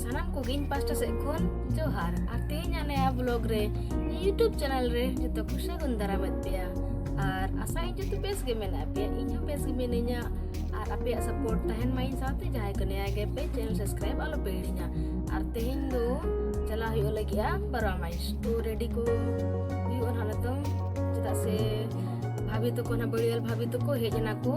ᱥᱟᱱᱟᱢ ᱠᱚᱜᱮ ᱤᱧ ᱯᱟᱥᱴᱟ ᱥᱮᱫ ᱠᱷᱚᱱ ᱡᱚᱦᱟᱨ ᱟᱨ ᱛᱮᱦᱮᱧ ᱟᱞᱮ ᱵᱞᱚᱜ ᱨᱮ ᱤᱧᱟᱹᱜ ᱪᱮᱱᱮᱞ ᱨᱮ ᱡᱚᱛᱚ ᱠᱚ ᱥᱟᱹᱜᱩᱱ ᱫᱟᱨᱟᱢᱮᱫ ᱯᱮᱭᱟ ᱟᱨ ᱟᱥᱟ ᱤᱧ ᱡᱚᱛᱚ ᱵᱮᱥ ᱜᱮ ᱢᱮᱱᱟᱜ ᱯᱮᱭᱟ ᱤᱧ ᱦᱚᱸ ᱵᱮᱥ ᱜᱮ ᱢᱤᱱᱟᱹᱧᱟ ᱟᱨ ᱟᱯᱮᱭᱟᱜ ᱥᱟᱯᱳᱨᱴ ᱛᱟᱦᱮᱱ ᱢᱟ ᱤᱧ ᱥᱟᱶᱛᱮ ᱡᱟᱦᱟᱸᱭ ᱠᱚ ᱱᱮᱭᱟ ᱜᱮ ᱯᱮ ᱪᱮᱱᱮᱞ ᱥᱟᱵᱥᱠᱨᱟᱭᱤᱵ ᱟᱞᱚ ᱯᱮ ᱦᱤᱲᱤᱧᱟ ᱟᱨ ᱛᱮᱦᱮᱧ ᱫᱚ ᱪᱟᱞᱟᱜ ᱦᱩᱭᱩᱜ ᱞᱟᱹᱜᱤᱫᱼᱟ ᱵᱟᱨᱣᱟ ᱢᱟᱭᱤᱥ ᱛᱚ ᱨᱮᱰᱤ ᱠᱚ ᱦᱩᱭᱩᱜᱼᱟ ᱱᱟᱦᱟᱜ ᱱᱤᱛᱚᱝ ᱪᱮᱫᱟᱜ ᱥᱮ ᱵᱷᱟᱵᱤ ᱛᱟᱠᱚ ᱱᱟᱦᱟᱜ ᱵᱟᱹᱲᱤᱭᱟᱹᱞ ᱵᱷᱟᱵᱤ ᱛᱟᱠᱚ ᱦᱮᱡ ᱮᱱᱟ ᱠᱚ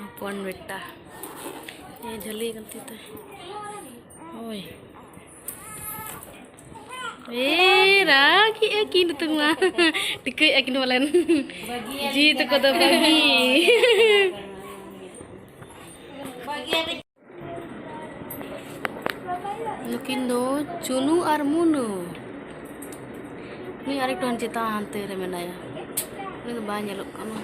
ᱦᱚᱯᱚᱱ ᱵᱮᱴᱟ ᱮ ᱡᱷᱟᱹᱞᱤ ᱠᱟᱱ ᱛᱤ ᱛᱟᱭ ᱳᱭ ᱮ ᱨᱟᱜᱤ ᱮ ᱠᱤᱱ ᱛᱩᱝ ᱢᱟ ᱴᱤᱠᱟᱹᱭ ᱮ ᱠᱤᱱ ᱵᱚᱞᱮᱱ ᱡᱤ ᱛᱟᱠᱚ ᱫᱚ ᱵᱟᱹᱜᱤ ᱱᱩᱠᱤᱱ ᱫᱚ ᱪᱩᱱᱩ ᱟᱨ ᱢᱩᱱᱩ ᱱᱩᱭ ᱟᱨᱮᱠᱴᱩ ᱦᱟᱱ ᱪᱮᱛᱟᱱ ᱦᱟᱱᱛᱮ ᱨᱮ ᱢᱮᱱᱟᱭᱟ ᱩᱱᱤ ᱫᱚ ᱵᱟᱭ ᱧᱮᱞᱚᱜ ᱠᱟᱱᱟ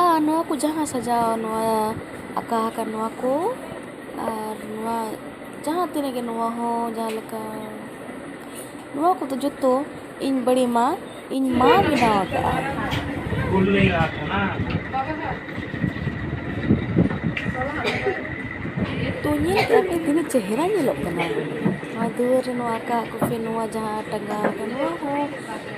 ᱟᱨ ᱱᱚᱣᱟ ᱠᱚ ᱡᱟᱦᱟᱸ ᱥᱟᱡᱟᱣ ᱱᱚᱣᱟ ᱟᱠᱟ ᱟᱠᱟᱱ ᱱᱚᱣᱟ ᱠᱚ ᱟᱨ ᱱᱚᱣᱟ ᱡᱟᱦᱟᱸ ᱛᱤᱱᱟᱹᱜ ᱜᱮ ᱱᱚᱣᱟ ᱦᱚᱸ ᱡᱟᱦᱟᱸ ᱞᱮᱠᱟ ᱱᱚᱣᱟ ᱠᱚᱫᱚ ᱡᱚᱛᱚ ᱤᱧ ᱵᱟᱹᱲᱤ ᱢᱟ ᱤᱧ ᱢᱟ ᱵᱮᱱᱟᱣ ᱟᱠᱟᱫᱼᱟ ᱛᱚ ᱧᱮᱞ ᱠᱮᱫᱟ ᱯᱮ ᱛᱤᱱᱟᱹᱜ ᱪᱮᱦᱨᱟ ᱧᱮᱞᱚᱜ ᱠᱟᱱᱟ ᱱᱚᱣᱟ ᱫᱩᱣᱟᱹᱨ ᱨᱮ ᱱᱚᱣᱟ ᱟᱠᱟ ᱟᱠᱚ ᱯᱮ ᱱᱚᱣᱟ ᱡᱟᱦᱟᱸ ᱴᱟᱸᱜᱟᱣ ᱟᱠᱟᱱ ᱱᱚᱣᱟ ᱦᱚᱸ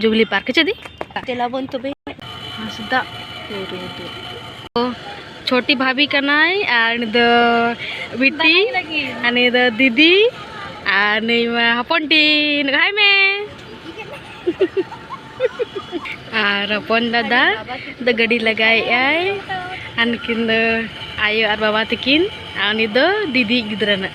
ᱡᱩᱵᱽᱞᱤ ᱯᱟᱨᱠ ᱪᱮᱫ ᱫᱤ ᱪᱮᱞᱟ ᱵᱚᱱ ᱛᱚᱵᱮ ᱦᱟᱸᱥᱫᱟ ᱪᱷᱚᱴᱤ ᱵᱷᱟᱵᱤ ᱠᱟᱱᱟᱭ ᱟᱨ ᱱᱤ ᱫᱚ ᱵᱤᱴᱤ ᱟᱨ ᱱᱤ ᱫᱚ ᱫᱤᱫᱤ ᱟᱨ ᱱᱤ ᱢᱟ ᱦᱚᱯᱚᱱ ᱴᱤ ᱱᱚᱜᱼᱚᱭ ᱢᱮ ᱟᱨ ᱦᱚᱯᱚᱱ ᱫᱟᱫᱟ ᱫᱚ ᱜᱟᱹᱰᱤ ᱞᱟᱜᱟᱭᱮᱜᱼᱟᱭ ᱟᱨ ᱱᱩᱠᱤᱱ ᱫᱚ ᱟᱭᱳ ᱟᱨ ᱵᱟᱵᱟ ᱛᱟᱹᱠᱤᱱ ᱟᱨ ᱩᱱᱤ ᱫᱚ ᱫᱤᱫᱤ ᱜᱤᱫᱽᱨᱟᱹ ᱱᱟᱜ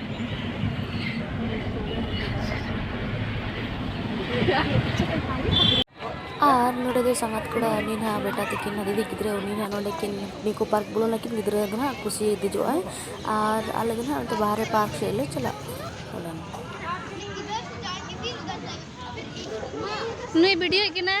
ᱟᱨ ᱱᱚᱰᱮ ᱫᱚ ᱥᱟᱸᱜᱟᱛ ᱠᱚᱲᱟ ᱩᱱᱤ ᱱᱟᱦᱟᱜ ᱵᱮᱴᱟ ᱛᱟᱹᱠᱤᱱ ᱦᱚᱸ ᱫᱤᱫᱤ ᱜᱤᱫᱽᱨᱟᱹ ᱩᱱᱤ ᱱᱟᱦᱟᱜ ᱱᱚᱰᱮ ᱠᱤᱱ ᱱᱤᱠᱳ ᱯᱟᱨᱠ ᱵᱚᱞᱚᱱ ᱟᱹᱠᱤᱱ ᱜᱤᱫᱽᱨᱟᱹ ᱫᱚ ᱱᱟᱦᱟᱜ ᱠᱩᱥᱤ ᱫᱮᱡᱚᱜ ᱟᱭ ᱟᱨ ᱟᱞᱮ ᱫᱚ ᱱᱟᱦᱟᱜ ᱚᱱᱛᱮ ᱵᱟᱦᱨᱮ ᱯᱟᱨᱠ ᱥᱮᱫ ᱞᱮ ᱪᱟᱞᱟᱜ ᱠᱟᱱᱟ ᱱᱩᱭ ᱵᱷᱤᱰᱤᱭᱳᱭᱮᱫ ᱠᱟᱱᱟ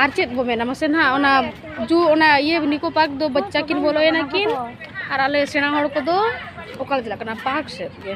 ᱟᱨ ᱪᱮᱫ ᱵᱚ ᱢᱮᱱᱟ ᱢᱟᱥᱮ ᱱᱟᱦᱟᱜ ᱚᱱᱟ ᱡᱩ ᱚᱱᱟ ᱤᱭᱟᱹ ᱱᱤᱠᱳ ᱯᱟᱨᱠ ᱫᱚ ᱵᱟᱪᱪᱟ ᱠᱤᱱ ᱵᱚᱞᱚᱭᱮᱱᱟ ᱠᱤᱱ ᱟᱨ ᱟᱞᱮ ᱥᱮᱬᱟ ᱦᱚᱲ ᱠᱚᱫᱚ ᱚᱠᱟᱞᱮ ᱪᱟᱞᱟᱜ ᱠᱟᱱᱟ ᱯᱟᱨᱠ ᱥᱮᱫ ᱜᱮ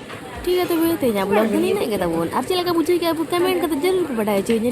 ᱴᱷᱤᱠ ᱜᱮᱭᱟ ᱛᱚᱵᱮ ᱛᱮᱦᱮᱧᱟᱜ ᱵᱞᱚᱜ ᱫᱚ ᱱᱤᱱᱟᱹᱜ ᱜᱮ ᱛᱟᱵᱚᱱ ᱟᱨ ᱪᱮᱫ ᱞᱮᱠᱟ ᱵᱩᱡᱷᱟᱹᱣ ᱠᱮᱫᱟ ᱠᱚᱢᱮᱱᱴ ᱠᱟᱛᱮ ᱡᱟᱹᱨᱩᱲ ᱯᱮ ᱵᱟᱰᱟᱭ ᱦᱚᱪᱚᱧᱟ